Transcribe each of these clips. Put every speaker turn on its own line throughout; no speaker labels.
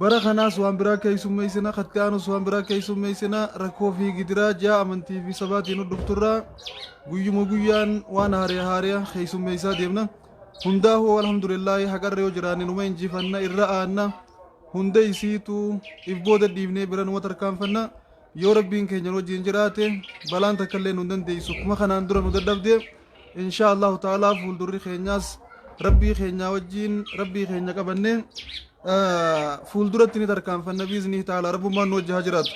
Bara kanaas waan biraa keessummeessina, kan itti aanus waan biraa keessummeessina. Rakkoo fi gidiraa ji'a amantii fi sabaatiin hordofturraa guyyuma guyyaan waan haariya haariya keessummeessaa deemna. Hundaafuu alhamdulillaahi haqarra yoo jiraanne numa injifanna, irra aanna. Hunda isiitu if booda dhiifnee bira numa tarkaanfanna. Yoo Rabbiin keenya nu wajjin jiraate balaan takka illee nu hin dandeessu. Akkuma kanaan dura nu dadhabde inshaa Allahu ta'aalaa fuuldurri keenyaas Rabbii keenyaa wajjin Rabbii keenya qabannee ah, fuulduratti ni tarkaanfanna biiznii ta'aalaa Rabbummaan nu wajji haa jiraatu.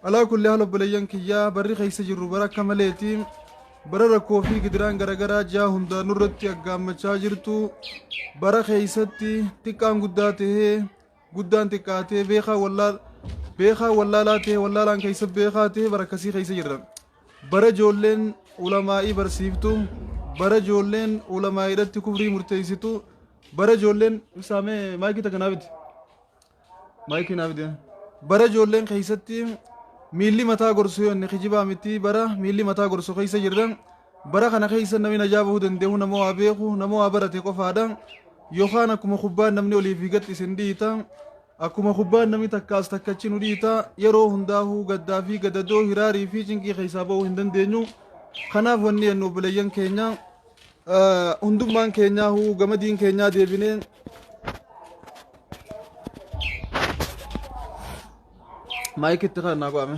Alaa kulli haala obboleeyyan kiyyaa barri keessa jirru bara akka maleeti bara rakkoo fi gidiraan garaagaraa ji'a hundaa nurratti aggaammachaa jirtu bara keessatti xiqqaan guddaa tahee guddaan xiqqaa ta'e beekaa wallaal beekaa wallaalaa ta'e wallaalaan keessa beekaa ta'e bara akkasii keessa jirra bara ijoolleen ulamaa'ii barsiiftu bara ijoolleen ulamaa'iidhatti kufrii murteessitu bara ijoolleen ibsaamee maayikii takka naafiti maayikii naafiti bara ijoolleen keessatti miilli mataa gorsu yoonni kijibaa miti bara miilli mataa gorsu keessa jirra Bara kana keessa namni najaa bahuu dandeehu nama waa beeku, nama waa barate qofaadha. Yookaan akkuma kubbaan namni olii fi gad isin dhiita. Akkuma kubbaan namni takka as takka achi nu dhiita. Yeroo hundaahuu gaddaa fi gadadoo hiraarii fi cinqii keessaa bahuu hin dandeenyu. Kanaaf wanni jennu obboleeyyan keenya eh, hundummaan keenyaahuu gama diin keenyaa deebinee maayikitti kan naa go'ame.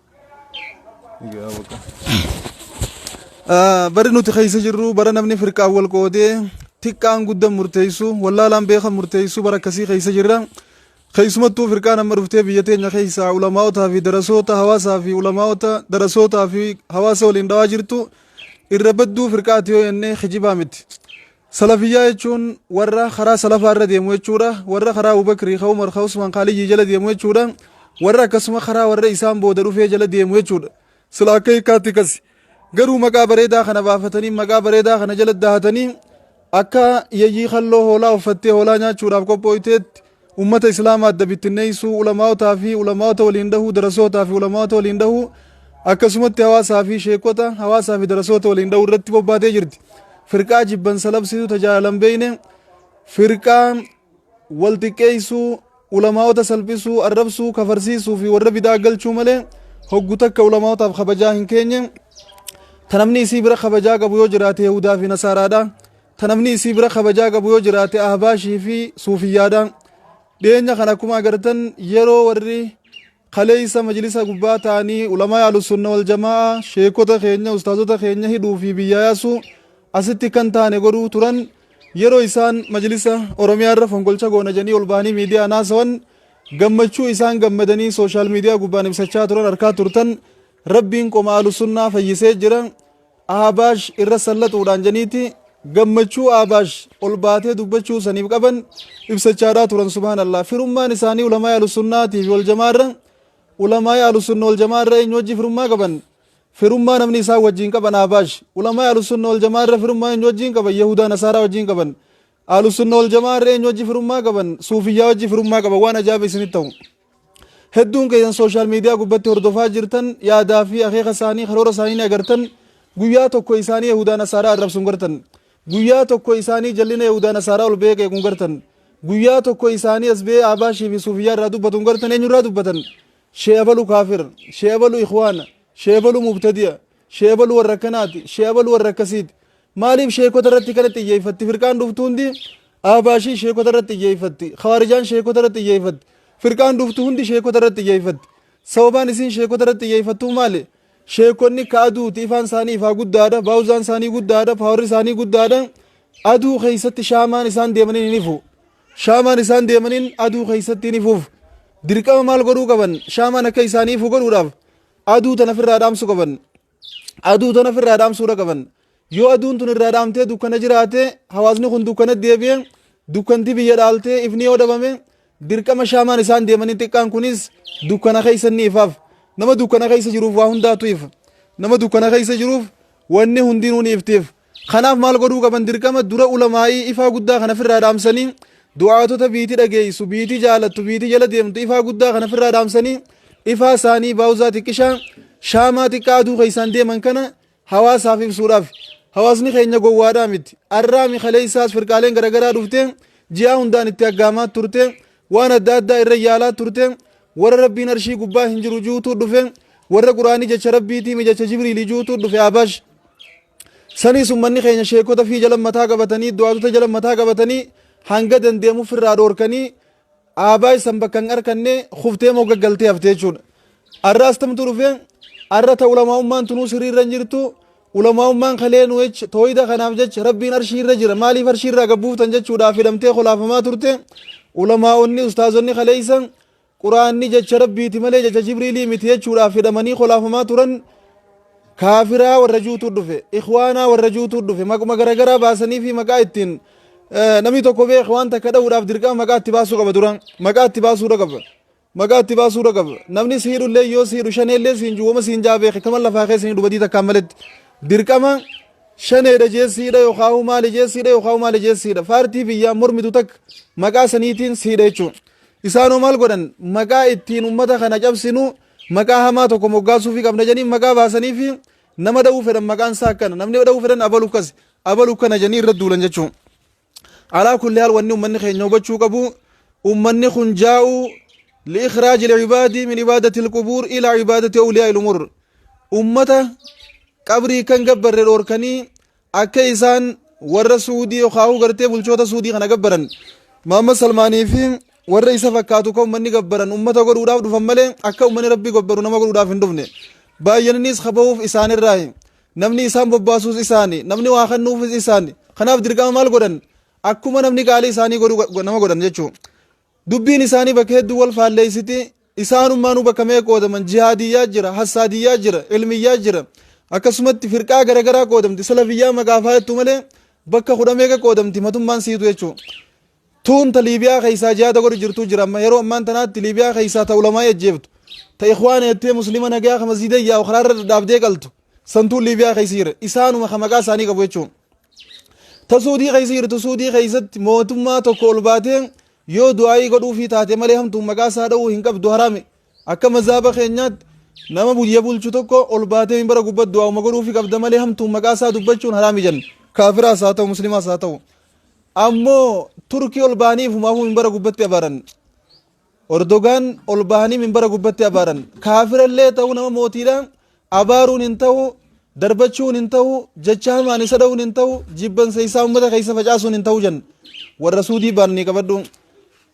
Bari nuti keessa jirru bara namni firqaan wal qoodee xiqqaan guddaan murteessu wallaalaan beekan murteessu bara akkasii keessa jirra. Keessumattuu firqaan amma dhuftee biyya teenya keessaa ulamaa'otaa fi darasoota hawaasaa fi ulamaa'ota darasootaa fi hawaasa waliin dhawaa jirtu irra badduu firqaati yoo jennee kijibaa miti. Salafiyyaa jechuun warra karaa salafaa irra deemu jechuudha. Warra karaa Abu Bakrii, ka Umar, ka Usmaan, ka Aliyyii jala deemu jechuudha. Warra akkasuma karaa warra isaan booda dhufee jala deemu jechuudha. Sila akka hiikkaatti kasi. Garuu maqaa bareedaa kana baafatanii maqaa bareedaa kana jala dahatanii akka yayyii kalloo hoolaa uffattee hoolaa nyaachuudhaaf qophooyteetti Ummata Islaama adda bittinneessuu, ulamaa'otaa fi ulamaa'ota waliin dhahuu, darasootaa fi ulamaa'ota waliin dhahuu, akkasumatti hawaasaa fi sheekota, hawaasaa fi darasoota waliin dhahuu irratti bobbaatee jirti. Firqaa jibbansa labsituu tajaajila hin beekne, firqaa wal xiqqeessuu, ulamaa'ota salphisuu, arrabsuu, kafarsiisuu fi warra bidaa galchuu malee hoggu takka ulamaa'otaaf kabajaa hin keenye. Ta namni isii bira kabajaa qabu yoo jiraate Yahudaa fi Nasaaraadha. ta namni isii bira kabajaa qabu yoo jiraate ahbaashii fi suufiyyaadha dhiyeenya kana akkuma agartan yeroo warri kaleessa majlisa gubbaa ta'anii ulamaa alusunna wal jamaa sheekota keenya ustaazota keenya hidhuu fi biyyaa yaasuu asitti kan taane godhuu turan yeroo isaan majlisa oromiyaa irra fonqolcha goona jedhanii ol bahanii miidiyaa naasawan gammachuu isaan gammadanii sooshaal miidiyaa gubbaan ibsachaa turan harkaa turtan rabbiin qoma alusunnaa fayyisee jira Ahbaash irra sallaxuudhaan janiiti gammachuu Ahbaash ol baatee dubbachuu saniif qaban ibsachaadhaa turan subhaanallah firummaan isaanii ulamaa'ii ahlusunnaatii fi waljamaarra ulamaa'ii ahlusunna waljamaarra eenyu wajji firummaa qaban firummaa namni isaan wajjiin qaban Ahbaash ulamaa'ii ahlusunna waljamaarra firummaa eenyu wajjiin qaban yahudaa nasaaraa wajjiin qaban ahlusunna waljamaarra eenyu wajji firummaa qaban suufiyyaa wajji firummaa qaban waan ajaa'iba isinitti ta'u Hedduun keessan sooshaal miidiyaa gubbatti hordofaa jirtan yaadaa fi akeeka isaanii karoora isaanii ni agartan guyyaa tokko isaanii Yahudaa Nasaaraa arrabsuun gartan guyyaa tokko isaanii jallina Yahudaa Nasaaraa ol beekee kun gartan guyyaa tokko isaanii as ba'ee Abaashii fi Suufiyyaa irraa dubbatuun gartan eenyurraa dubbatan shee abalu kaafir shee abalu ikhwaana shee abalu mubtadi'a shee abalu warra akkanaati shee abalu warra akkasiiti Maaliif sheekota irratti kana xiyyeeffatti? Firqaan dhuftu hundi Ahbaashiin sheekota irratti xiyyeeffatti. Khawaarijaan sheekota irratti xiyyeeffatti. Firqaan dhuftu hundi sheekota irratti xiyyeeffatti. Sababaan isiin sheekota irratti xiyyeeffattuu maali? Sheekonni ka aduuti ifaan isaanii ifaa guddaadha. Baawuzaan isaanii guddaadha. Paawarri isaanii guddaadha. Aduu keessatti shaamaan isaan deemaniin hin ifu. Shaamaan isaan deemaniin aduu keessatti hin ifuuf. Dirqama maal godhuu qaban? Shaamaan akka isaanii ifu godhuudhaaf aduu tana ofirraa dhaamsu qaban. Aduu tana ofirraa dhaamsuudha qaban. Yoo aduun tun irraa dhaamtee dukkana jiraate hawaasni kun dukkana deebi'e dukkanti biyya dhaaltee ifni yoo dhabame dirqama shaamaan isaan deemanii xiqqaan kunis dukkana keessa ni ifaaf. Nama dukkana keessa jiruuf waa hundaatu ifa. Nama dukkana keessa jiruuf wanni hundinuu ni iftiif. Kanaaf maal godhuu qaban dirqama dura ulamaa'ii ifaa guddaa kana firraa dhaamsanii du'aatota biiti dhageessu biiti jaalattu biiti jala deemtu ifaa guddaa kana firraa dhaamsanii ifaa isaanii baawuzaa xiqqishaa shaamaa xiqqaa aduu keessaan deeman kana hawaasaaf ibsuudhaaf hawaasni keenya gowwaadhaa miti arraami kaleessaas firqaaleen garagaraa dhufte ji'aa hundaan itti aggaamaa turte waan adda addaa irra yaalaa turte warra rabbiin arshii gubbaa hin jiru juutuu dhufe warra quraanii jecha rabbiitii mijacha jibriilii juutuu dhufe abash Saniis ummanni keenya sheekota fii jala mataa qabatanii, du'aatota jala mataa qabatanii hanga dandeemu firraa dhoorkanii aabaa isan bakka hin arkanne kuftee mogga galtee hafte jechuudha. Arra astamtu dhufe, arra ta ulamaa'ummaan tunuu sirrii irra hin jirtu, ulamaa'ummaan kalee nu jech tooyida kanaaf jech rabbiin arshii irra jira maaliif arshii irraa gabbuuftan jechuudhaaf hidhamtee kolaafamaa turte ulamaa'onni ustaazonni kaleeysa Qur'aanni jecha Rabbiiti malee jecha Jibriilii miti jechuudhaaf hidhamanii kolaafamaa turan kaafiraa warra juutu dhufe, ikhwaanaa warra juutu dhufe, maquma garagaraa baasanii fi maqaa ittiin eh, namni tokko bee ikhwaan takka dha'uudhaaf dirqama maqaa itti baasuu qaba dura. Maqaa itti baasuudha qaba. Maqaa itti baasuudha qaba. Namni si hidhu illee yoo si hidhu shanee illee siin jiru wama siin jaa beeke kama lafaa keessa hin hidhu badii takkaan maletti. Dirqama shaneedha jeessiidha yookaan hoo maali jeessiidha yookaan hoo maali jeessiidha. Faartii biyyaa mormitu takka maqaa saniitiin siidha jechuudha. Isaan hoo maal godhan? Maqaa ittiin ummata kana cabsinu maqaa hamaa tokko moggaasuufii qabna jedhanii maqaa baasaniifi nama dha'uu fedhan maqaan isaa akkana. Namni dha'uu fedhan abalu akkasi, abalu akkana jedhanii irra duulan jechuudha. Alaa kulli haal wanni ummanni keenya hubachuu qabu ummanni kun jaa'u li'ikhraaj il'ibaadii min ibaadati ilqubuur ila ibaadati awliyaa ilumur. Ummata qabrii kan gabbarre dhoorkanii Akka isaan warra Suudii yookaan gartee bulchoota Suudii kana gabbaran Muhammad Salmaanii fi warra isa fakkaatu kan ummanni gabbaran ummata godhuudhaaf dhufan malee akka ummanni rabbii gabbaru nama godhuudhaaf hin dhufne. Baay'inaniis kabahuuf isaanirraayi. Namni isaan bobbaasuus isaani. Namni waa kennuufis isaani. Kanaaf dirqama maal godhan? Akkuma namni qaalii isaanii godhu nama godhan jechuudha. Dubbiin isaanii bakka hedduu wal faalleessiti. Isaanummaanuu bakka meeqa qoodaman? Jihaadiyyaa jira, hassaadiyyaa jira, ilmiyyaa jira. Akkasumatti firqaa garagaraa qoodamti. Salafiyyaa maqaaf haa jettu malee bakka kudha meeqa qoodamti matummaan siitu jechuudha. Tuun ta Liibiyaa keessaa jihaada godhu jirtuu jira. Amma yeroo ammaan tanaatti Liibiyaa keessaa ta ulamaa ajjeeftu. Ta ikhwaana jettee muslima nagaa ka masjiida yaa'u karaarra dhadhaabdee qaltu. santuu liibiyaa keessa jira isaanuma ka maqaa isaanii qabu jechuun ta suudii keessa jirtu suudii keessatti mootummaa tokko ol baatee yoo du'aayii godhuufii taate malee hamtuun maqaa isaa dha'uu hin qabdu haraame akka mazaaba keenyaatti nama biyya bulchu tokko ol baatee minbara gubbatti du'aa'uma godhuufii qabda malee hamtuun maqaa isaa dubbachuun haraami jenna kaafiraas haa ta'u muslimaas haa ta'u ammoo turkii ol baaniif humaafuu minbara gubbatti abaaran Ordogaan ol bahanii minbara gubbatti abaaran. Kaafirallee ta'uu nama mootiidha abaaruun hin ta'u, darbachuun hin ta'u, jecha hamaan isa dha'uun hin ta'u, jibbansa isaa ummata keessa facaasuun hin ta'u jan. Warra Suudii baananii qabadhu.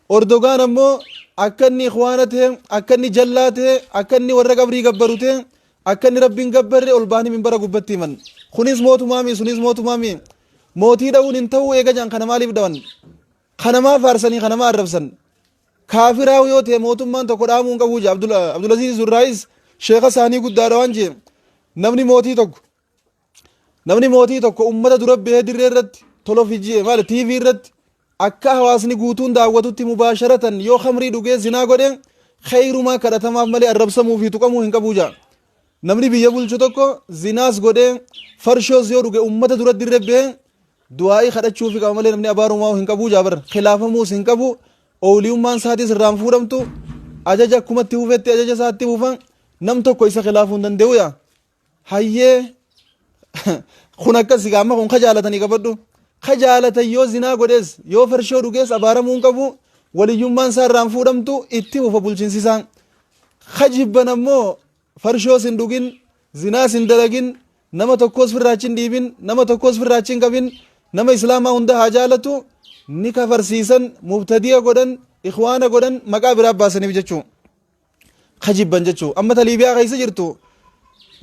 Ordogaan ammoo akka inni ikhwaana ta'e, akka inni jallaa ta'e, akka inni warra qabrii gabbaru ta'e, akka inni rabbiin gabbarre ol bahanii minbara gubbatti himan. Kunis mootumaami, sunis mootumaami. Mootii dha'uun hin ta'u eega jan kana maaliif dha'an? Ka namaa faarsanii ka namaa arrabsan kaafiraa yoo ta'e mootummaan tokko dhaamuu hin qabu jee Abdulaziiz Zurraayis sheeka isaanii guddaadha waan jee namni mootii tokko namni mootii tokko ummata dura bahee dirree irratti tolofijii maal TV irratti akka hawaasni guutuun daawwatutti mubaasharatan yoo khamrii dhugee zinaa godhe kheyrumaa kadhatamaaf malee arrabsamuu fi tuqamuu hin qabu jaa. Namni biyya bulchu tokko zinaas godhee farshoos yoo dhuge ummata duratti irra ba'ee du'aa'ii kadhachuufi qaba malee namni abaarumaa hin qabu jaabar khilaafamuus hin qabu ooliyummaan isaatis irraan fuudhamtu ajaja akkumatti hufetti ajaja isaatti hufa nam tokko isa khilaafuu hin danda'u yaa hayyee kun akkas egaa amma kun ka jaalatanii qabadhu ka jaalatan yoo zinaa godhees yoo farshoo dhugees abaaramuu hin qabu waliyyummaan isaa irraan fuudhamtu itti hufa bulchinsisaa Ka jibban ammoo farshoos hin dhugin, zinaas hin dalagin, nama tokkoos firraa achi hin dhiibin, nama tokkoos firraa achi hin qabin, nama Islaamaa hunda haa jaalatu, ni kafarsiisan, mubtadi'a godhan, ikhwaana godhan, maqaa biraa baasaniif jechuu. Ka jibban jechuu. Amma ta Liibiyaa keessa jirtu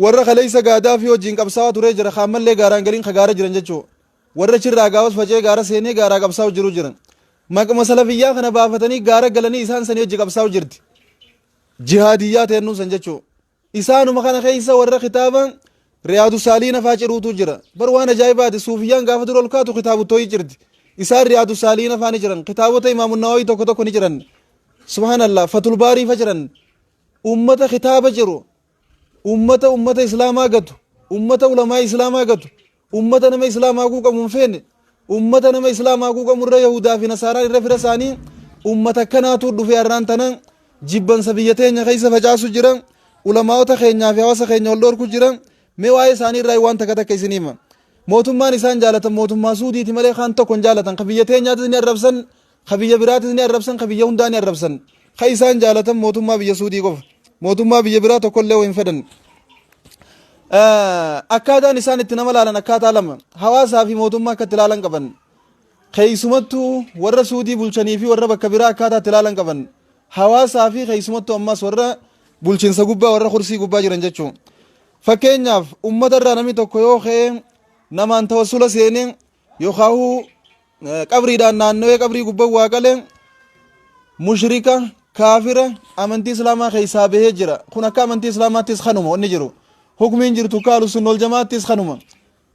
warra kaleessa Gaadaafii wajjin qabsaawaa turee jira, ka ammallee gaaraan galin ka gaara jiran jechuu. Warri achi irraa gaafas faca'ee gaara seenee gaaraa qabsaa'u jiru jiran. Maquma salafiyyaa kana baafatanii gaara galanii isaan sanii wajji qabsaa'u jirti. Jihaadiyyaa teennuu san jechuu. Isaanuma kana keessa warra kitaaba Riyaadu Saaliina faa ciruutu jira. Bar waan ajaa'ibaati suufiyyaan gaafa dura ol kaatu kitaabu tooyi cirti. Isaan Riyaadu Saaliina faa ni jiran. Kitaabota Imaamu Nawaawii tokko tokko ni jiran. Subhaanallah fatul baarii fa jiran. Uummata kitaaba jiru. Ummata ummata islaamaa gatu, ummata ulamaa'ii islaamaa gatu, ummata nama islaamaa quuqamu hin feene, ummata nama islaamaa quuqamu irra yahuudaa fi nasaaraan irra fira isaanii ummata akkanaatu dhufee har'aan tana jibbansa biyya teenya keessa facaasu jira ulamaa'ota keenyaa fi hawaasa keenya wal dhoorku jira mee waa'ee isaanii irraa waan takka takka isin hima mootummaan isaan jaalatan mootummaa suudiiti malee kaan tokko hin jaalatan ka biyya teenyaatti ni arrabsan Ka biyya biraatis ni arrabsan, ka biyya hundaa ni arrabsan. Ka isaan jaalatan mootummaa biyya Suudii qofa. Mootummaa biyya biraa tokkollee hin fedhan. Eh, Akkaataan isaan itti nama laalan akkaataa lama. Hawaasaa fi mootummaa akka itti laalan qaban. Keessumattuu warra Suudii bulchanii fi warra bakka biraa akkaataa itti laalan qaban. Hawaasaa fi keessumattuu ammas warra bulchinsa gubbaa warra kursii gubbaa jiran jechuudha. Fakkeenyaaf uummata irraa namni tokko yoo ka'e namaan tawassula seenee yookaahuu qabriidhaan naannawee qabrii gubbaa waa qalee mushrika kaafira amantii islaamaa keessaa bahee jira kun akka amantii islaamaattis kanuma wanni jiru hukmiin jirtu akka alusunna waljamaattis kanuma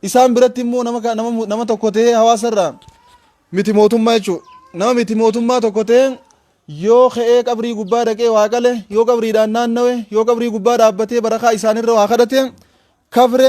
isaan biratti immoo nama ka- nama mu- nama tokko ta'ee hawaasarraa miti mootummaa jechuudha nama miti mootummaa tokko ta'ee yoo ka'ee qabrii gubbaa dhaqee waa qale yoo qabriidhaan naannawe yoo qabrii gubbaa dhaabbatee barakaa isaanirra waa kadhate kafre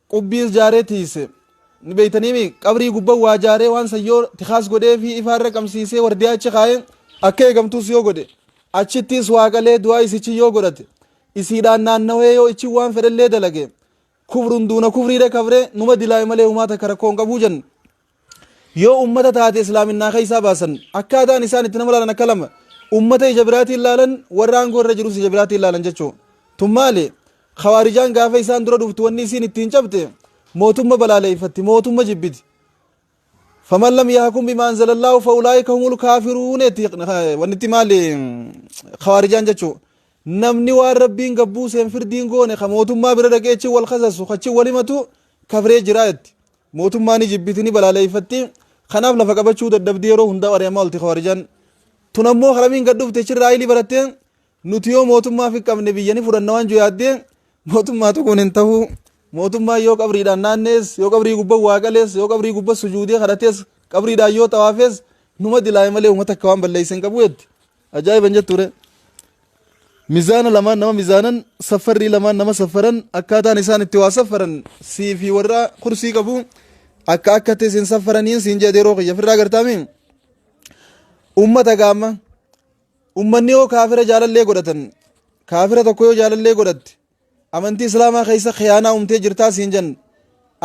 Qubbii is jaaree tiiyse. Ni beeytanii mii? Qabrii gubba waa jaaree waan san yoo tikaas godhee fi ifaa irra qamsiisee wardiyaa achi kaayee akka eegamtuus yoo godhe achittiis waa qalee du'aa isichi yoo godhate isiidhaan naannawee yoo ichi waan fedhellee dalage kufrun duuna kufriidha kabree numa dilaaye malee humaa takka rakkoo hin qabuu jenne. Yoo ummata taate islaaminaa keessaa baasan akkaataan isaan itti nama laalan akka lama ummata ija biraatiin laalan warra aangoo irra jirus ija biraatiin laalan jechuu tun maali khawaarijaan gaafa isaan dura dhuftu wanni isiin ittiin cabte mootumma balaaleeffatti mootumma jibbiti faman lam yahkum bima anzalallahu fa ulaika humul kafirun etti wanni itti maali khawaarijaan jechuu namni waan rabbiin gabbuu seen firdiin goone ka mootummaa bira dhaqeechi wal kasasu kachi walimatu kafree jiraa jetti Mootummaa ni jibbiti, ni balaaleeffatti. Kanaaf lafa qabachuu dadhabdi yeroo hundaa ari'amaa olti Khawaarijan. Tun ammoo haramiin gad dhufte chirraa ilii baratte nuti yoo mootummaa fi qabne biyya ni fudhanna waan juyaaddee mootummaatu kun hin tahuu. Mootummaan yoo qabriidhaan naannees, yoo qabrii gubba waa qalees, yoo qabrii gubba sujuudee kadhatees, qabriidhaan yoo xawaafees numa dilaa'e malee uummata akka waan balleesse hin qabu jetti. Ajaa'iba hin jettuure. Mizaana lamaan nama mizaanan saffarrii lamaan nama saffaran akkaataan isaan itti waa saffaran sii fi warra kursii qabu akka akkatti isin saffaraniin siin jedhe yeroo kiyya firraa gartaami. Uummata gaama. Uummanni yoo kaafira jaalallee godhatan kaafira tokko yoo jaalallee godhatte Amantii islaamaa keessa khiyaanaa umtee jirtaa siin jenne.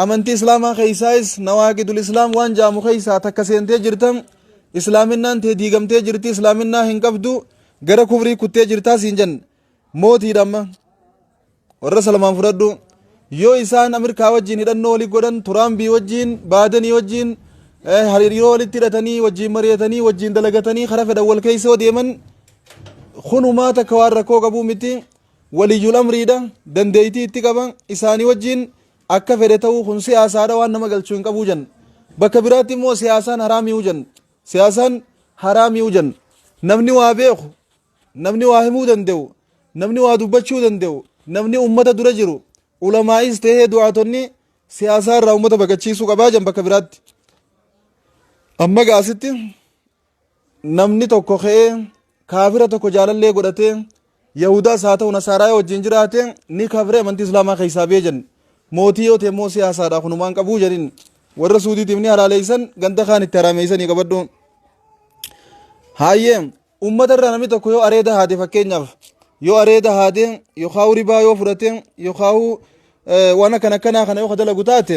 Amantii islaamaa keessaayis nawaaqidul islaam waan jaamu keessaa takka seentee jirta. Islaaminaan tee diigamtee jirti islaaminaa hin qabdu gara kufrii kuttee jirtaa siin jenne. Mootiidha amma. Warra salmaan fudhadhu. Yoo isaan Ameerikaa wajjin hidhannoo walii godhan Turaambii wajjin Baadanii wajjin hariiroo walitti hidhatanii wajjin mari'atanii wajjin dalagatanii karaa fedhan wal keessa yoo deeman kunumaa takka waan rakkoo qabuu miti. waliyyul amriidha, dandeeytii itti qaba, isaanii wajjiin akka fedhe ta'uu kun siyaasaadha waan nama galchuu hin qabuu jenna. Bakka biraatti immoo siyaasaan haraami'uu jenna. Siyaasaan haraami'uu jenna. Namni waa beeku, namni waa himuu danda'u, namni waa dubbachuu danda'u, namni ummata dura jiru, ulamaa'is ta'ee du'aatonni siyaasaa irraa ummata baqachiisuu qabaa jenna bakka biraatti. Amma gaasitti namni tokko ka'ee kaafira tokko jaalallee godhatee yahudaas haa ta'u nasaaraa yoo wajjin jiraate ni kafre amantii islaamaa keessaa bee jenne mootii yoo ta'e immoo siyaasaadha kunumaan qabuu jedhin warra suudiitiif ni halaaleessan ganda kaan itti haraameessanii qabadhu haayee ummata irraa namni tokko yoo areeda haate fakkeenyaaf yoo areeda haate yookaan ribaa yoo fudhate yookaan waan akkan akkanaa kana yoo dalagu taate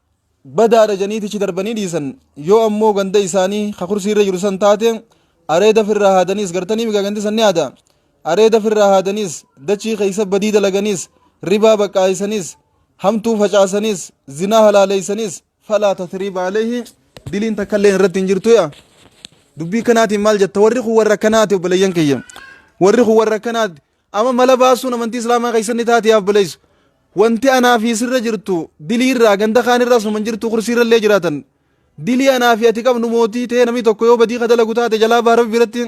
badaadha jedhanii tichi darbanii dhiisan yoo ammoo ganda isaanii ka kursii irra jiru san taate areeda firraa haadaniis gartanii migaa gandi san ni haada areeda firraa haadaniis dachii keessa badii dalaganiis ribaa baqqaayisaniis hamtuu facaasaniis zinaa halaaleeysaniis falaa tasriiba aleehi diliin takkallee irratti hin jirtu yaa dubbii kanaatiin maal jetta warri kun warra akkanaati obboleeyyan kiyya warri kun warra akkanaati Ama mala baasuun amantii islaamaa keessatti ni taati yaa obboleessa. Wanti anaa fi sirra jirtu dilii irraa ganda kaan irraa suman jirtu kursii irra illee jiraatan. Dilii anaa fi ati qabnu mootii ta'ee namni tokko yoo badii ka dalagu taate jalaa baha rabbi biratti.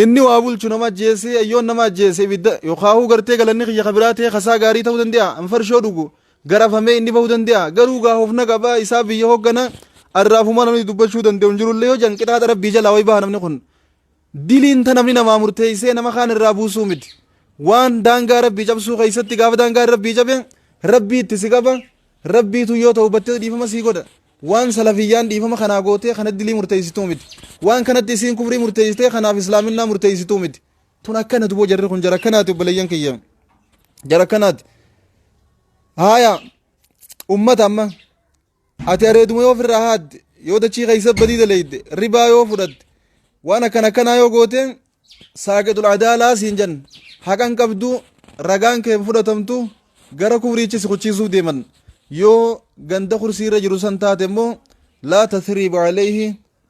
Inni waa bulchu nama ajjeesee ayyoon nama ajjeese ibidda yookaahuu gartee galanni kiyya kabiraa ta'ee kasaa gaarii ta'uu danda'a an farshoo dhugu garafamee inni bahuu danda'a garuu gaa hofna qaba isaa biyya hooggana arraafuma namni dubbachuu danda'u hin jirullee yoo jan qixaaxa rabbii jalaa wayi baha namni kun. Diliin ta namni namaa murteeysee nama kaan irraa buusuu miti. Waan daangaa Rabbii cabsuu keeysatti gaafa daangaan Rabbii cabe Rabbii itti si qaba, Rabbiitu yoo tawbatte dhiifama sii godha. Waan salafiyyaan dhiifama kanaa gootee kana dilii murteeysituu miti. Waan kanatti isiin kufrii murteeysitee kanaaf islaaminaa murteeysituu miti. Tun akkana duboo jarri kun jara akkanaati obboleeyyan kiyya. Jara akkanaati. Haaya ummata amma Ati areeduma yoo ofirraa haadde, yoo dachii keessa badii daleyde, ribaa yoo fudhatte, waan akkana akkanaa yoo goote, saaqixul adaalaa siin jan. Haqan qabdu, ragaan kee hin fudhatamtu, gara kufriichi si kuchiisuuf deeman. Yoo ganda kursii irra jiru san taate immoo, laa tasriiba alayhi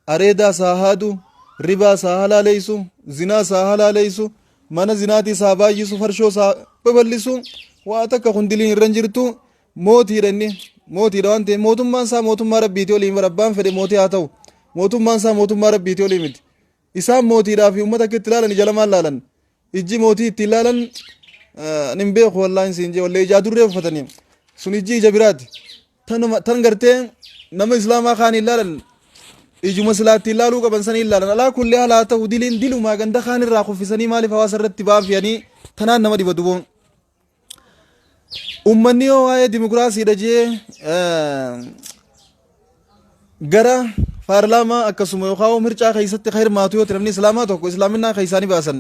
areedaa saa haadu, ribaa saa halaaleysu, zinaa saa halaaleysu, mana zinaatii saa baay'isu, farshoo saa babal'isu, waa takka kun diliin irra hin jirtu, mootiidha inni, mootiidha waan ta'eef mootummaan isaa mootummaa rabbiitii olii miti, abbaan fedhe mootii haa ta'u, mootummaan isaa mootummaa rabbiitii olii miti. Isaan mootiidhaa fi uummata akka itti ilaalan ija lamaan ilaalan, ijji mootii itti ilaalan eh, ani hin beeku wallaahi siin jee wallee ijaa durree uffatanii sun ijji ija biraati. tanuma tan gartee nama islaamaa kaan hin laalan ijuma silaatti hin laaluu qaban sanii hin laalan alaa kulli haala haa ta'u diliin dilumaa ganda kaan irraa kuffisanii maaliif hawaasa irratti baafiyanii tanaan nama dhiba duboon ummanni yoo waa'ee dimokiraasiidha jee gara paarlaamaa akkasuma yookaan mircaa keessatti kan hirmaatu yoo ta'e namni islaamaa tokko islaaminaa keessaa ni baasan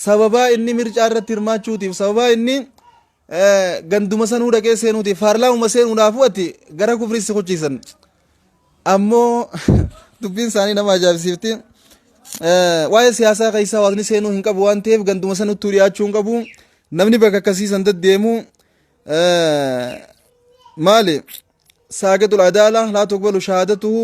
sababaa inni mircaa irratti hirmaachuutiif sababaa inni ganduma sanuu dhaqee seenuutiif paarlaamuma seenuudhaafuu ati gara kufrii si kuchiisan ammoo dubbiin isaanii nama ajaa'ibsiifti waa'ee siyaasaa keessaa waaqni seenuu hin qabu waan ta'eef ganduma sanuttuu dhiyaachuu hin qabu namni bakka akkasii san deddeemu maali saaqixul adaala laa tuqbalu shahaadatuhu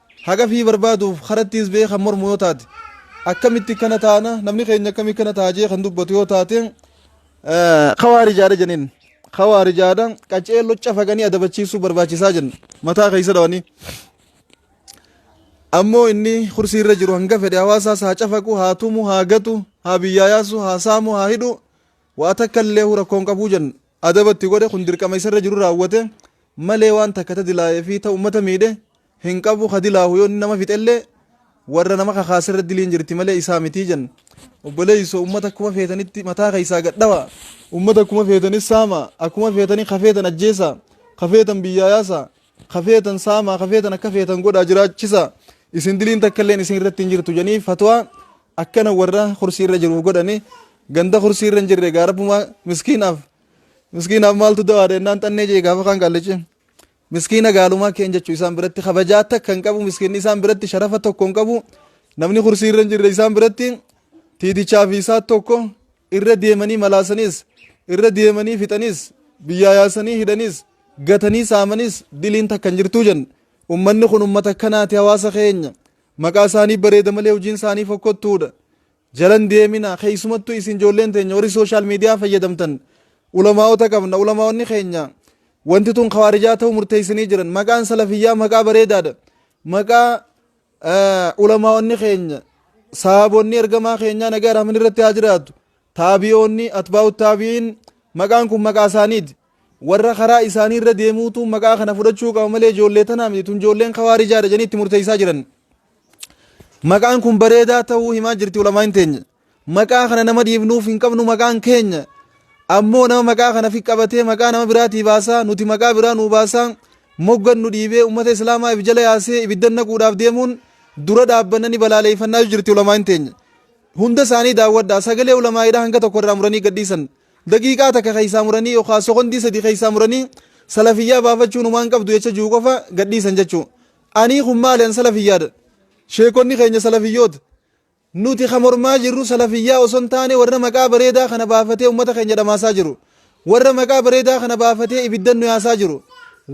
Haqa fii barbaaduuf karattiis ba'ee kan mormu yoo taate akkamitti kana taana namni keenya akkamii kana ta'a jee kan dubbatu yoo taate kawaarijaadha janiin kawaarijaadha qacee locca faganii adabachiisuu barbaachisaa jenna mataa keessa dhawanii ammoo inni kursii irra jiru hanga fedhe hawaasaas haa cafaqu haa tumu haa gatu haa biyyaa yaasu haa saamu haa hidhu waa takka illee rakkoon qabuu jenna adaba itti godhe kun dirqama isarra jiru raawwate malee waan takka ta dilaayee fi ta ummata miidhe hin qabu ka dilaahu yoo inni nama fixellee warra nama kakaaserra diliin jirti malee isaa mitii jan obboleeyso ummata akkuma feetanitti mataa keessaa gadhawa ummata akkuma feetanis saama akkuma feetanii ka feetan ajjeesa ka feetan biyyaa yaasa ka feetan saamaa ka feetan akka feetan godhaa jiraachisa isin diliin takka illeen isin irratti hin jirtu jedhanii fatwaa akkana warra kursii irra jiruuf godhani ganda kursii irra hin jirre gaa rabbumaa miskiinaaf miskiinaaf maaltu dawaadha jennaan xannee jee gaafa kaan gaallichi miskiina gaalumaa keen jechuu isaan biratti kabajaa takka hin qabu miskiinni isaan biratti sharafa tokko hin qabu namni kursii irra hin jirre isaan biratti tiitichaa fi isaa tokko Irra deemanii malaasaniis, irra deemanii fixaniis, biyyaa yaasanii hidhaniis, gatanii saamaniis diliin takka hin jirtuu jenna. Ummanni kun ummata akkanaati hawaasa keenya. Maqaa isaanii bareeda malee hojiin isaanii fokkottuudha. Jalan deemina keessumattuu isin ijoolleen teenya warri sooshaal miidiyaa fayyadamtan ulamaa'ota qabna ulamaa'onni keenya wanti tun kawaarijaa ta'uu murteessanii jiran maqaan salafiyyaa maqaa bareedaadha maqaa Ulamaa'onni keenya sahaabonni ergamaa keenyaa nagaa rahman irratti haa jiraatu taabiyoonni atbaa'u taabi'iin maqaan kun maqaa isaaniiti warra karaa isaanii irra deemuutu maqaa kana fudhachuu qaba malee ijoollee tanaa miti tun ijoolleen kawaarijaa jedhanii itti murteessaa jiran maqaan kun bareedaa ta'uu himaa jirti ulamaa'in teenya Maqaa kana nama dhiifnuuf hin qabnu maqaan keenya ammoo nama maqaa kana fi qabatee maqaa nama biraatii baasaa nuti maqaa biraa nuu baasaa moggan nu dhiibee ummata islaamaa if jala yaasee ibiddan naquudhaaf deemuun dura dhaabbanna ni balaaleeffannaa jirti ulamaan teenya. Hunda isaanii daawwadhaa sagalee ulamaa'idhaa hanga tokko irraa muranii gadhiisan daqiiqaa takka keessaa muranii yookaan sokondii sadii keessaa muranii salafiyyaa baafachuun humaan qabdu jecha jiru qofa gadhiisan jechuudha. Anii kun maali an salafiyyaadha. Sheekonni keenya salafiyyoota. Nuti kan mormaa jirru salafiyyaa osoo hin taane warra maqaa bareedaa kana baafatee ummata keenya dhamaasaa jiru. Warra maqaa bareedaa kana baafatee ibiddan nu yaasaa jiru.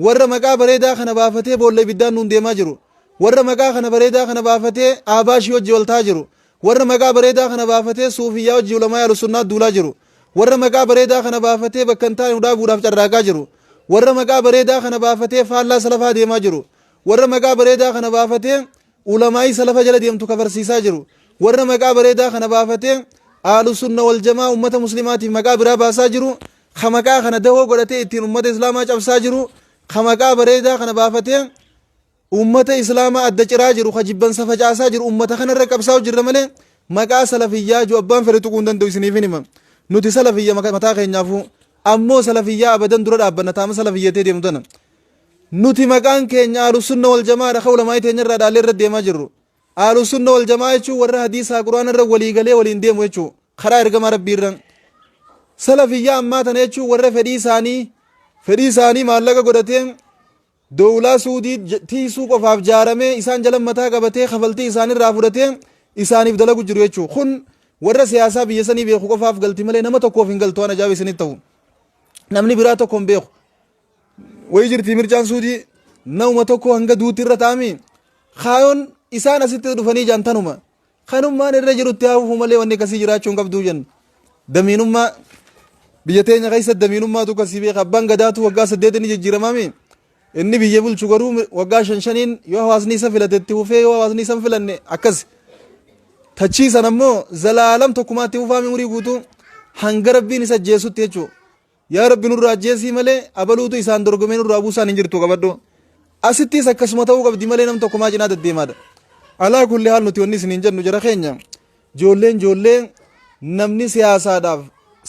Warra maqaa bareedaa kana baafatee boolla ibiddaan nuun deemaa jiru. Warra maqaa kana bareedaa kana baafatee aabaashii wajji wal ta'aa jiru. Warra maqaa bareedaa kana baafatee suufiyyaa wajji ulamaa alusunnaa duulaa jiru. Warra maqaa bareedaa kana baafatee bakka hin taane nu dhaabuudhaaf carraaqaa jiru. Warra maqaa bareedaa kana baafatee faallaa salafaa deemaa jiru. Warra maqaa bareedaa kana baafatee Ulamaa'ii salafa jala deemtu kafarsiisaa jiru. Warra maqaa bareedaa kana baafatee Ahlusunna wal jamaa ummata muslimaatiif maqaa biraa baasaa jiru, ka maqaa kana dahoo godhatee ittiin ummata islaamaa cabsaa jiru, ka maqaa bareedaa kana baafatee ummata islaamaa adda ciraa jiru, ka jibbansa facaasaa jiru ummata kanarra qabsaa'u jirra malee maqaa salafiyyaa jiru abbaan fedhe tuquu hin danda'u isiniif hin hima. Nuti salafiyya mataa keenyaafuu ammoo salafiyyaa abadan dura dhaabbanna taama salafiyyatee deemtu tana. Nuti maqaan keenya Ahlusunna wal Jama'aadha kan ulamaa'ii teenya irraa dhaallee irra deemaa jirru. Ahlusunna wal Jama'aa jechuun warra hadiisaa Qur'aana irra walii galee waliin deemu jechuu karaa ergamaa Rabbii irran. Salafiyyaa ammaa tana jechuun warra fedhii isaanii fedhii isaanii maallaqa godhatee dowlaa suudii tiisuu qofaaf jaaramee isaan jala mataa qabatee kafaltii isaanirraa fudhatee isaaniif dalagu jiru jechuu kun warra siyaasaa biyya sanii beeku qofaaf galti malee nama tokkoof hin galtu waan ajaa'ibaa isinitti ta'u namni biraa tokko hin beeku Wayii jirti mircaan suudii nauma tokko hanga duutti irra ta'amii kaayoon isaan asitti dhufanii jaan tanuma kanummaan irra jirutti haafuu malee wanni akkasii jiraachuu hin qabduu jenna. Damiinummaa biyya teenya keessa damiinummaatu akkasii beeka abbaan gadaatu waggaa saddeet inni jijjiiramaami inni biyya bulchu garuu waggaa shan shaniin yoo hawaasni isa filatetti hufee yoo hawaasni isa hin filanne akkas tachii san ammoo zalaalam tokkumaatti hufaami umurii guutuu hanga rabbiin isa jeessutti jechuudha. Yaa Rabbi nurraa ajjeesii malee abaluutu isaan dorgomee nurraa buusaan hin jirtu qabadhu. Asittis akkasuma ta'uu qabdi malee nam tokko maa cinaa daddeemaadha. Alaa kulli haal nuti wanni isiniin jennu jara keenya joolleen joollee namni siyaasaadhaaf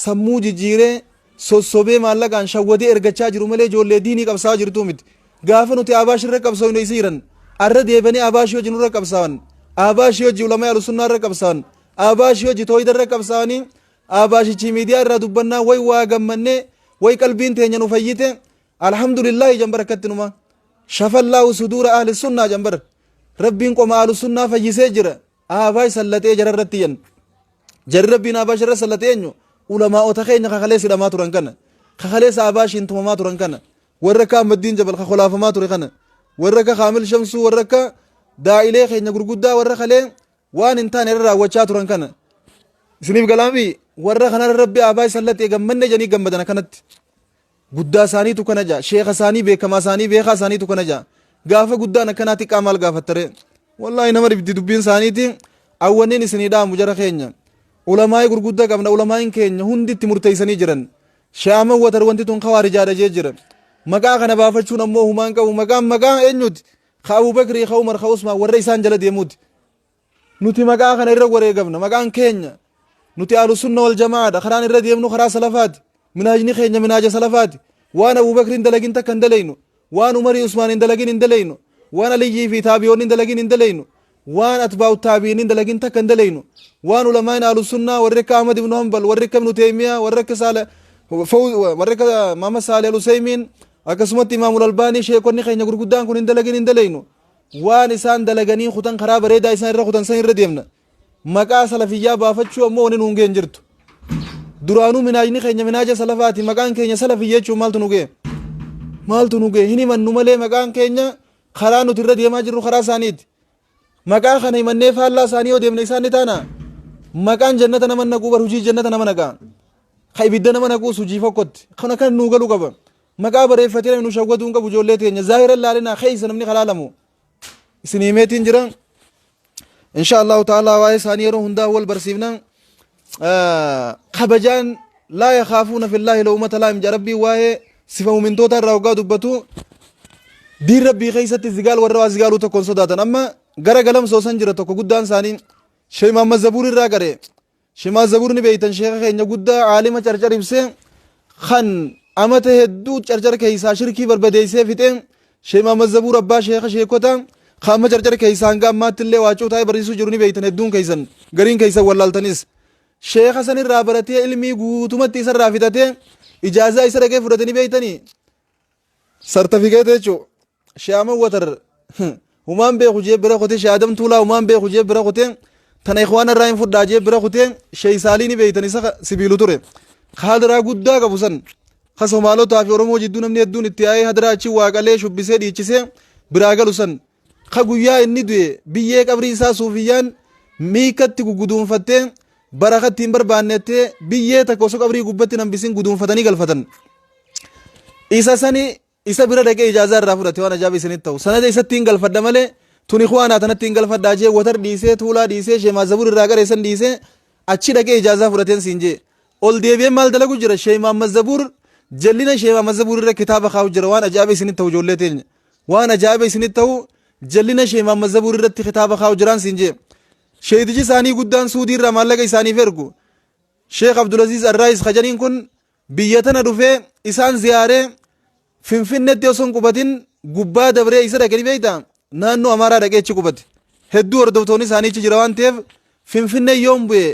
sammuu jijjiiree sossobee maallaqaan shawwadee ergachaa jiru malee joollee diinii qabsaa jirtuu miti. Gaafa nuti Abaash irra qabsoofnu isii jiran arra deebanii Abaash hojii nurra qabsaawan Abaash hojii ulamaa alusunnaa irra qabsaawan Abaash hojii tooyida irra qabsaawanii Ahbaashichii miidiyaa irraa dubbannaa way waa gammannee way qalbiin teenya nu fayyite alhamdulillaahi janbar akkatti numa shafallaahu suduura ahli sunnaa janbar rabbiin qoma ahlu sunnaa fayyisee jira ahbaash sallaxee jara irratti yan jarri rabbiin ahbaash irra sallaxee eenyu ulamaa'ota keenya kakalee sidhamaa turan kana kakalee saabaashiin tumamaa turan kana warra akka ahmaddiin jabal kakolaafamaa ture kana warra akka kaamil shamsuu warra akka daa'ilee keenya gurguddaa warra kalee waan hin taane irra raawwachaa turan kana isiniif galaamii warra kanarra rabbi aabaa isallatti gammanne jedhanii gammadan akkanatti guddaa isaaniitu kana jaa sheeka isaanii beekamaa isaanii beekaa isaaniitu kana jaa gaafa guddaan akkanaa xiqqaa maal gaafattaree wallaahi nama dhibdi dubbiin isaaniiti awwanniin isinii dhaamu jara keenya ulamaa'ii gurguddaa qabna ulamaa'iin keenya hunditti murteessanii jiran shaaman watar wanti tun kawaarijaadha jee jira maqaa kana baafachuun ammoo humaan qabu maqaan maqaa eenyuti ka Abu Bakrii, ka Umar, ka Usmaan warra isaan jala deemuuti. Nuti maqaa kana irra wareegamna. Maqaan keenya nuti Ahlusunna wal Jama'aadha. Karaan irra deemnu karaa salafaati. Minhaajni keenya minhaaja salafaati. Waan Abu Bakrii hin dalagin takka hin dalaynu. Waan Umarii Usmaan hin dalagin hin dalaynu. Waan Aliyyii fi taabi'oonni hin dalagin hin dalaynu. Waan atbaa'u taabi'iiniin dalagin takka hin dalaynu. Waan ulamaa'in ahlu sunnaa warri akka Ahmad ibn Hanbal, warri akka ibn Taymiyyah, warri akka Saalih Fawz, warri akka Muhammad Saalih al-Usaymiin, akkasumatti Imaamul Albaanii sheekonni keenya gurguddaan kun hin dalagin hin dalaynu. Waan isaan dalaganii kutan karaa bareedaa isaan irra kutan san irra deemna. Maqaa salafiyyaa baafachuu ammoo wanni nuun ga'e hin jirtu. Duraanuu minaajni keenya minaaja salafaati. Maqaan keenya salafiyya jechuun maaltu nu ga'e? Maaltu nu ga'e? Hin himannu malee maqaan keenya Karaa nuti irra deemaa jirru karaa isaaniiti. Maqaa kana himannee faallaa isaanii yoo deemne isaan ni taana. Maqaan jannata nama naquu bar hojii jannata nama naqaa. Ka ibidda nama naquus hojii fokkotti. Kana kan nuu galu qaba. Maqaa bareeffatee namni nu shawwaduu hin qabu ijoollee teenya. Zaahira laalinaa keessa namni kalaalamu. Isin himeetiin jira. insha allahu ta'ala waa'ee isaanii yeroo hundaa wal barsiifna kabajaan laa yakaafuuna fillaahi lawmata laa'im jedha rabbii waa'ee sifa mu'mintootaa irraa hoggaa dubbatu diin rabbii keessatti zigaal warra waa zigaaluu tokkoon sodaatan amma gara galamsoo san jira tokko guddaan isaanii sheekh Muhammad Zabuur irraa gare Shemaa Zabur ni beeytan sheeka keenya guddaa aalima carcar ibse kan amata hedduu carcar keeysaa shirkii barbadeeysee fixe Shemaa Mazabur abbaa sheeka sheekota kan amma carcar keeysaa hanga ammaatti illee waacuu taa'ee barsiisuu jiru ni beeytan hedduun keeysan gariin keeysan wallaaltanis sheeka san irraa baratee ilmii guutumatti isa irraa fixatee ijaazaa isa dhaqee fudhate ni beeytanii sartafikeeta jechuudha. Shaaman watar humaan beeku jee bira kutee shaadam tuulaa humaan beeku jee bira kutee tana ikhwaana irraa hin fudhaa jee bira kutee sheey saalii ni beeytan isa ka sibiilu ture ka hadiraa guddaa qabu san ka somaalotaa fi oromoo jidduu namni hedduun itti yaa'ee hadiraa achi waaqalee shubbisee dhiichisee biraa galu san ka guyyaa inni du'e biyyee qabrii isaa suufiyyaan miikatti guguduunfattee barakatti hin barbaannettee biyyee takka osoo qabrii gubbatti nambisin guduunfatanii galfatan isa sani Isa bira dhaqee ijaazaa irraa fudhate waan ajaa'iba isinitti ta'u sanada isattiin galfadha malee tun ikhwaanaa tanattiin galfadhaa jee watar dhiisee tuulaa dhiisee shee maazzabur irraa garee san dhiisee achi dhaqee ijaazaa fudhateen siin jee ol deebi'ee maal dalagu jira shee maammazzabuur jallina shee maammazzabuur irra kitaaba kaa'u jira waan ajaa'iba isinitti ta'u ijoollee teenya waan ajaa'iba isinitti ta'u jallina shee maammazzabuur irratti kitaaba kaa'u jiraan siin jee sheeytichi isaanii guddaan suudii irraa maallaqa isaaniif ergu sheekh abdulaziiz arraayis kajaniin kun Biyya tana dhufee isaan ziyaaree Finfinneetti osoo hin qubatin gubbaa dabree isa dhaqe ni beektaa? Naannoo Amaaraa dhaqee achi qubate. Hedduu hordoftoonni isaanii achi jira waan ta'eef Finfinnee yoon bu'e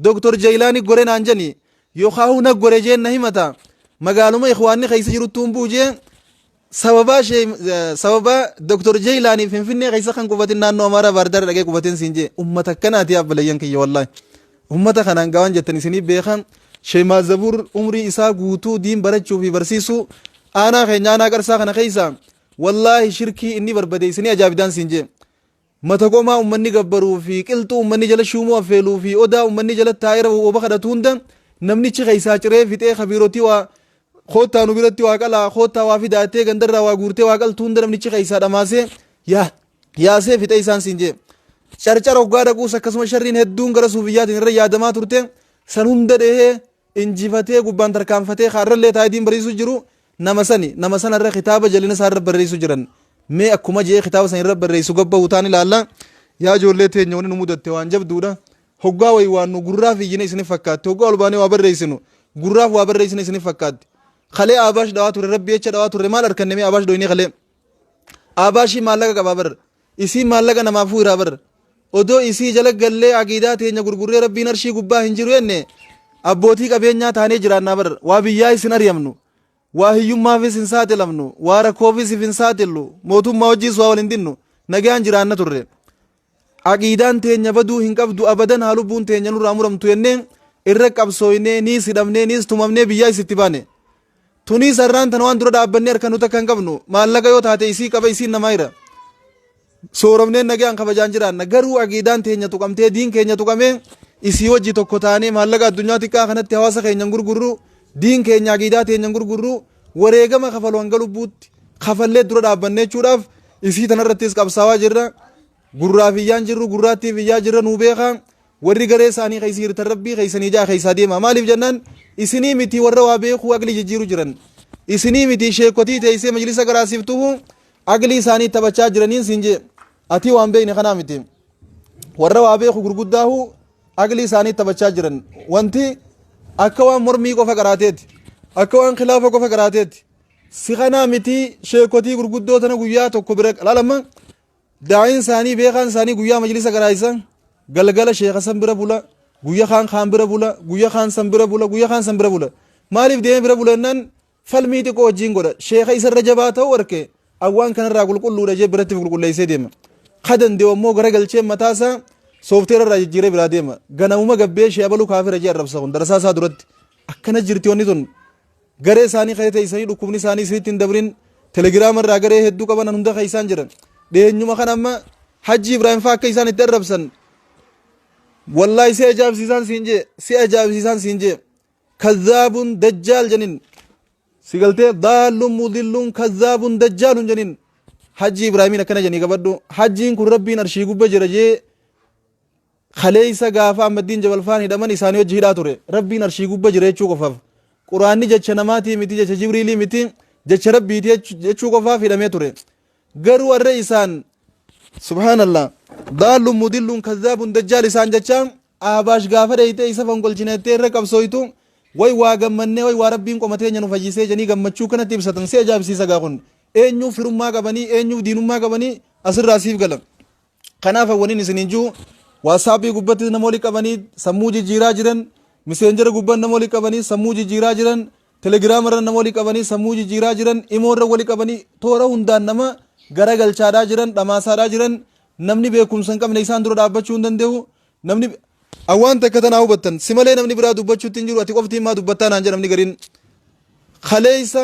Dooktor Jayilaanii gore naan jedhani yookaahuu na gore jeen na himata. Magaaluma Ikhwaanni keessa jiruttuun bu'u jee Sababaa shee sababaa Dr. Jeylaanii Finfinnee keessa kan qubatin naannoo Amaaraa Baardaar dhaqee qubatin siin jee ummata akkanaati abbaleyyan kiyya wallaahi. Ummata kanaan gawaan jettan isinii beekan shee maazabuur umrii isaa guutuu diin barachuu fi barsiisuu aanaa keenya aanaa qarsaa kana keessa wallaahi shirkii inni barbade isinii ajaa'ibdaan siin jee. Mata gomaa ummanni gabbaruu fi qilxuu ummanni jala shuumuu affeeluu fi odaa ummanni jala taa'ee rafu oba kadhatu hunda namnichi keessaa ciree fixee ka biirotii waa koottaa nu biratti waa qalaa koottaa waa fidaa jettee gandarraa waa guurtee waa qaltu hunda namnichi keessaa dhamaasee yaa yaasee fixee isaan siin jee. Carcar hoggaa dhaquus akkasuma sharriin hedduun gara suufiyyaatiin irra yaadamaa turte san hunda dhehee injifatee gubbaan tarkaanfatee ka irrallee taa'ee diin barsiisuu jiru nama sani nama sana irra kitaaba jalina isaa irra barreessuu jiran mee akkuma jee kitaaba sana irra barreessu gabbahu taan ilaalla yaa ijoollee teenya wani nu mudatte waan jabduudha hoggaa wayi waan nu gurraaf iyyine isinif fakkaatti hoggaa ol baanee waa barreessinu gurraaf waa barreessine isinif fakkaatti kalee aabaash dhawaa ture rabbi jecha dhawaa ture maal arkanne mee aabaash dhoyinee kalee Aabaa ishii maallaqa qabaa bar. Isiin maallaqa namaaf fuuraa bar. Odoo isii jala gallee aqiidaa teenya gurgurree rabbiin arshii gubbaa hin jiru jenne abbootii qabeenyaa taanee jiraannaa bar. Waa biyyaa isin ariyamnu. Waa hiyyummaafis hin saaxilamnu. Waa rakkoofis if hin saaxillu. Mootummaa wajjiis waa wal hin dinnu. Nagaan jiraanna turre. Aqiidaan teenya baduu hin qabdu abadan haa lubbuun teenya nurraa muramtu jennee irra qabsooynee niis hidhamnee niis tumamnee biyyaayis itti baane. Tuniis har'aan tana waan dura dhaabbannee harka nu takka hin qabnu maallaqa yoo taate isii qaba isiin namaa jira. Sooromnee nagayaan kabajaan jiraanna garuu aqiidaan teenya tuqamtee diin keenya tuqamee isii wajji tokko taanee maallaqa addunyaa xiqqaa kanatti hawaasa keenya hin gurgurru diin keenya aqiidaa teenya hin gurgurru wareegama kafalu hanga lubbuutti kafallee dura dhaabbanne jechuudhaaf isii tanarrattis qabsaawaa jirra. Gurraaf iyyaan jirru gurraattiif iyyaa jirra nuu beekaa. Warri garee isaanii keessa jirtan rabbii keessanii ja'a keessaa deema. Maaliif jennaan isinii miti warra waa beekuu agli jijjiiru jiran. Isinii miti sheekotii teessee majlisa garaasiftuhu agli isaanii taphachaa jiraniin siin jee. Ati waan beekne kanaa miti. Warra waa beeku gurguddaahu aqlii isaanii taphachaa jiran wanti akka waan mormii qofa qaraateeti akka waan kilaafa qofa qaraateeti si kanaa mitii sheekotii gurguddoo tana guyyaa tokko bira laalama daa'iin isaanii beekaan isaanii guyyaa majlisa qaraayisan galgala sheeka san bira bula guyya kaan kaan bira bula guyya kaan san bira bula guyya kaan san bira bula maaliif deemee bira bula jennaan Falmii xiqqoo wajjiin godha. Sheeka isa irra jabaa ta'uu arke an waan kanarraa qulqulluudha jee biratti qulqulleessee deema. Ka danda'u ammoo gara galchee mataa isaa soofteera irraa jijjiiree biraa deema. Ganamuma gabbee shee abaluu kaafira jee arrabsa kun darasaa isaa duratti. Akkana jirti wanni tun. Garee isaanii ka'ee teessanii dhukkubni isaanii siritti hin dabrin telegiraama irraa garee hedduu qaban hunda keessaan jiran. Dhiyeenyuma kan amma Hajji Ibrahim fa'aa akka isaan itti arrabsan. Wallaahi si ajaa'ibsiisaan siin jee si ajaa'ibsiisaan siin jee. kazzaabun dajjaal janin si galtee daallun mudillun kazzaabun dajjaalun janin hajji ibraahimin akkana janii qabadhu hajjiin kun rabbiin arshii gubba jira jee kaleeysa gaafa ammaddiin jabalfaan hidhaman isaanii hojji hidhaa ture rabbiin arshii gubba jira jechuu qofaaf quraanni jecha namaatii miti jecha jibriilii miti jecha rabbiiti jechuu qofaaf hidhamee ture Garuu arra isaan subhaanallah daallun mudillun kazzaabun dajjaal isaan jechaa aabaash gaafa dheeyxee isa fonqolchina jettee irra qabsooytu way waa gammannee way waa rabbiin qoma teenya nu fayyisee jedhanii gammachuu kanatti ibsatan si ajaa'ibsiisa gaa kun eenyuuf firummaa qabanii eenyuuf diinummaa qabanii asirraa siif gala. Kanaaf waniin isiniin jiru waatsaappii gubbattis nama wali qabanii sammuu jijjiiraa jiran miseenjera gubban nama wali qabanii sammuu jijjiiraa jiran telegiraama irra nama wali qabanii sammuu jijjiiraa jiran imoo irra wali qabanii toora hundaan nama garagalchaadhaa jiran dhamaasaadhaa jiran namni beekumsa hin qabne isaan dura dhaabbachuu hin danda'u namni awwaan takka tanaa hubattan si malee namni biraa dubbachuutti hin jiru ati qofti himaa dubbattaa naan jedha namni gariin kaleessa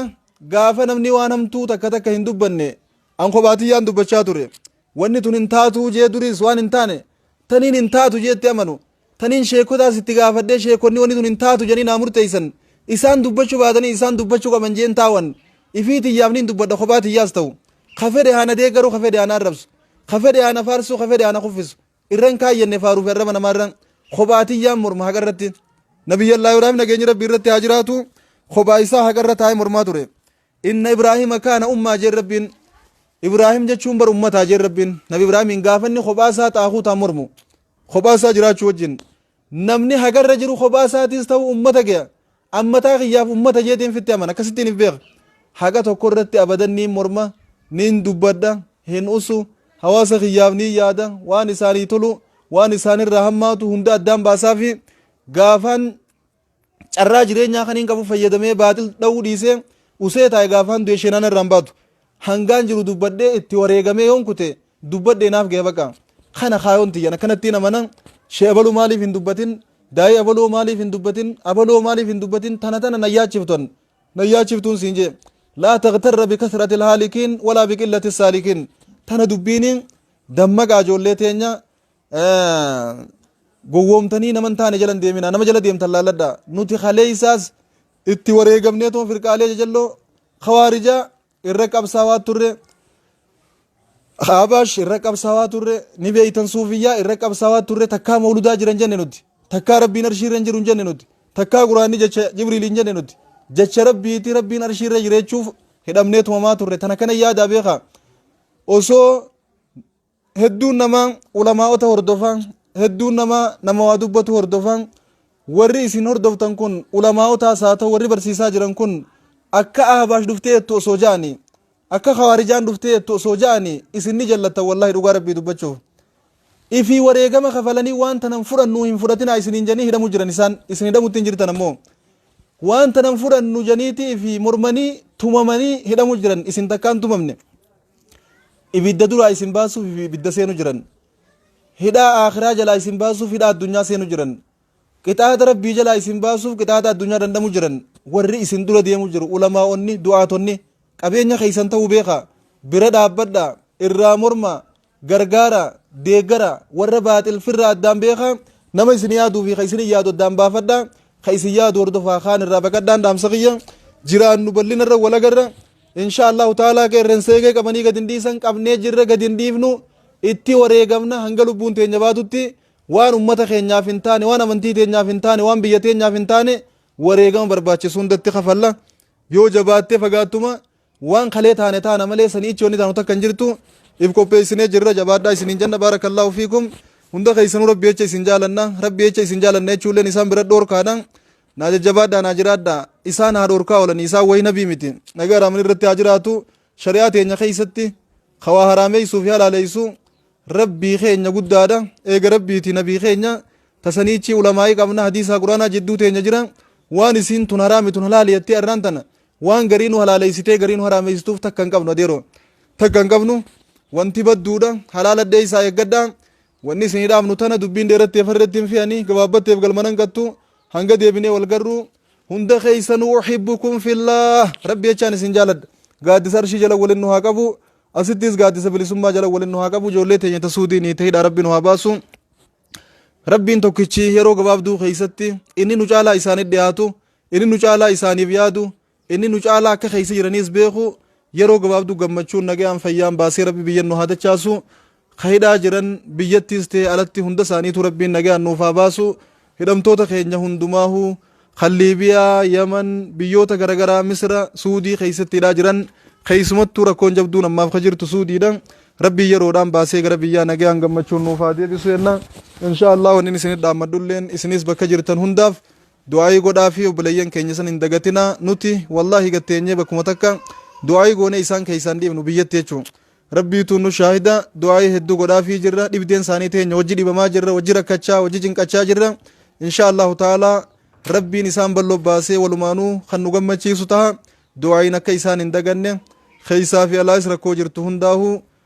gaafa namni waan hamtuu takka takka hin dubbanne an kophaatiyyaan dubbachaa ture Wanni tun hin taatuu jee duriis waan hin taane taniin hin taatu jee itti amanu taniin sheekotaas itti gaafadhee sheekonni wanni tun hin taatu jedhanii naa murteeysan isaan dubbachuu baatanii isaan dubbachuu qaban jeen taawan ifii tiyyaaf niin dubbadha kophaa tiyyaas ta'u ka fedhe haa na deeggaru ka fedhe haa na arrabsu ka fedhe haa na faarsuu ka fedhe haa na kuffisu irra hin kaayyenne faaruu fi arraba namaa irra kophaa tiyyaan morma haqa irratti nabiyyallaahi waraabni nageenyi rabbii irratti haa jiraatu kophaa isaa haqa irra taa'ee mormaa ture Inna Ibraahiima kaana ummaa jeen Rabbiin. Ibraahim jechuun bar ummataa jeen Rabbiin. Nabi Ibraahimiin gaafa inni kophaa isaa xaaquutaan mormu. Kophaa isaa jiraachuu wajjin. Namni hagarra jiru kophaa isaatiis ta'u ummata gaya. Ammataa kiyyaaf ummata jeetiin fitti amana. Akkasittiin if beeka. Haqa tokko irratti abadan niin morma, niin dubbadha, hin usu, hawaasa kiyyaaf niin yaada, waan isaanii tolu, waan isaanirraa hammaatu hunda addaan baasaa fi gaafaan Carraa jireenyaa kaniin qabu fayyadamee baaxil dha'uu dhiisee usee taa'e gaafaan du'e sheenaan irraan baatu. Hangaan jiru dubbadhee itti wareegamee yoon kute dubbadhee naaf gahe baqa. Kana kaayoon tiyyan akkanattiin amana shee abaluu maaliif hin dubbatin daa'ii abaloo maaliif hin dubbatin abaloo maaliif hin dubbatin tana tana na yaachiftan na yaachiftuun siin jee. Laa taqtarra bikasratil haalikiin walaa biqillati saalikiin tana dubbiini dammaqaa ijoollee teenya gowwoomtanii nama hin taane jala hin deeminaa nama jala deemtan laalladhaa nuti kaleessaas itti wareegamnee tuma firqaalee jajalloo kawaarijaa irra qabsaawaa turre Habaash irra qabsaawaa turre ni beeytan suufiyyaa irra qabsaawaa turre takkaa mawludaa jiran jenne nuti takkaa rabbiin arshii irra hin jiru hin jenne nuti takkaa quraanni jecha jibriil hin jenne nuti jecha rabbiiti rabbiin arshii irra jireechuuf hidhamnee tumamaa turre tana kana yaadaa beekaa osoo hedduun namaa ulamaa'ota hordofaa hedduun namaa nama waa dubbatu hordofaa warri isin hordoftan kun ulamaa'otaas haa ta'u warri barsiisaa jiran kun akka ahbaash dhuftee jettu osoo ja'ani akka khawaarijaan dhuftee jettu osoo ja'ani isin ni jallattan wallahi dhugaa rabbii dubbachuuf ifii wareegama kafalanii waan tanan fudhannu hin fudhatinaa isiniin janii hidhamu jiran isaan isin hidhamutti hin jirtan ammoo waan tanan fudhannu janiitii fi mormanii tumamanii hidhamu jiran isin takkaan tumamne Ibidda duraa isin baasuuf ibidda seenu jiran. Hidhaa aakhiraa jalaa isin baasuuf hidhaa addunyaa seenu jiran. Qixaata rabbii jalaa isin baasuuf qixaata addunyaa dandhamu jiran. Warri isin dura deemu jiru ulamaa'onni, du'aatonni qabeenya keessan ta'uu beeka. Bira dhaabbadha, irraa morma, gargaara, deeggara, warra baaxil firra addaan beeka. Nama isin yaaduu fi ka isin yaadu addaan baafadha. Ka isin yaadu hordofaa kaan irraa baqadhaan dhaamsa kiyya. Jiraannu bal'inarra walagarra. Inshaa Allaahu ta'aalaa qeerrensee eegee qabanii gad hin dhiisan qabnee jirra gad hin dhiifnu itti wareegamna hanga lubbuun teenya baatutti waan ummata keenyaaf hin taane waan amantii teenyaaf hin taane waan biyya teenyaaf hin taane wareegama barbaachisu hundatti kafalla yoo jabaattee fagaattuma waan kalee taane taana malee sanii ichi wanni taanu takka hin jirtu if qopheessinee jirra jabaadhaa isiniin jenna baarakallaahu fiikum hunda keessanuu rabbi jecha isin jaalanna rabbi jecha isin jaalanna jechuulleen isaan bira dhoorkaadha Naa jajjabaadhaa naa jiraadhaa. Isaan haa dhorkaa oolanii isaan wayii nabii miti. Nagaa irraaman irratti haa jiraatu. Shari'aa teenya keessatti ka waa haraameessuu fi halaaleessu rabbii keenya guddaadha. Eega rabbiiti nabii keenya tasaniichi ulamaa'ii qabna hadiisaa quraanaa jidduu teenya jira. Waan isiin tun haraami tun halaali jettee arraan tana waan garii nu halaaleessitee garii nu haraameessituuf takka hin qabnu adeeroo. Takka hin qabnu wanti badduudha halaala dheessaa eeggadhaa. Wanni isinii dhaamnu tana, dubbiin dheeratte afan irratti hin fe'anii, gabaabbatteef galma nan gattu, hanga deebinee wal garru, hunda keessanuu uhibbukum fillaah, Rabbi jechaan isin jaaladha. Gaaddisa Arshii jala walin nu haa qabu, asittis gaaddisa bilisummaa jala walin nu haa qabu, ijoollee teenya ta Suudiinii, ta hidhaa Rabbi nu haa baasu. Rabbiin tokkichi yeroo gabaabduu keessatti inni nu caalaa isaanitti dhiyaatu, inni nu caalaa isaaniif yaadu, Inni nu caalaa akka keessa jiraniis beeku yeroo gabaabduu gammachuun nagayaan fayyaan baasee rabbi biyyan nu haa dachaasu ka hidhaa jiran biyyattiis ta'e alatti hunda isaaniitu rabbiin nagayaan nuuf haa baasu hidhamtoota keenya hundumaahu kan liibiyaa yaman biyyoota garagaraa misira suudii keessatti hidhaa jiran keessumattuu rakkoon jabduun ammaaf ka jirtu suudiidha rabbii yeroodhaan baasee gara biyyaa nagayaan gammachuun nuuf haa deebisu jenna inshaa allah wannin isinit dhaammadhulleen isinis bakka jirtan hundaaf Du'aa'ii godhaafii obboleeyyan keenya san hin dagatinaa nuti wallaahi gad teenyee bakkuma takka du'aa'ii goonee isaan keessaa hin dhiifnu biyyatti jechuun rabbiituu nu shaahida du'aa'ii hedduu godhaafii jirra dhibdeen isaanii teenya wajji dhibamaa jirra wajji rakkachaa wajji cinqachaa jirra inshaa allahu ta'aalaa rabbiin isaan balloo baasee walumaanuu kan nu gammachiisu taha du'aa'iin akka isaan hin daganne keessaa fi alaas rakkoo jirtu hundaahuu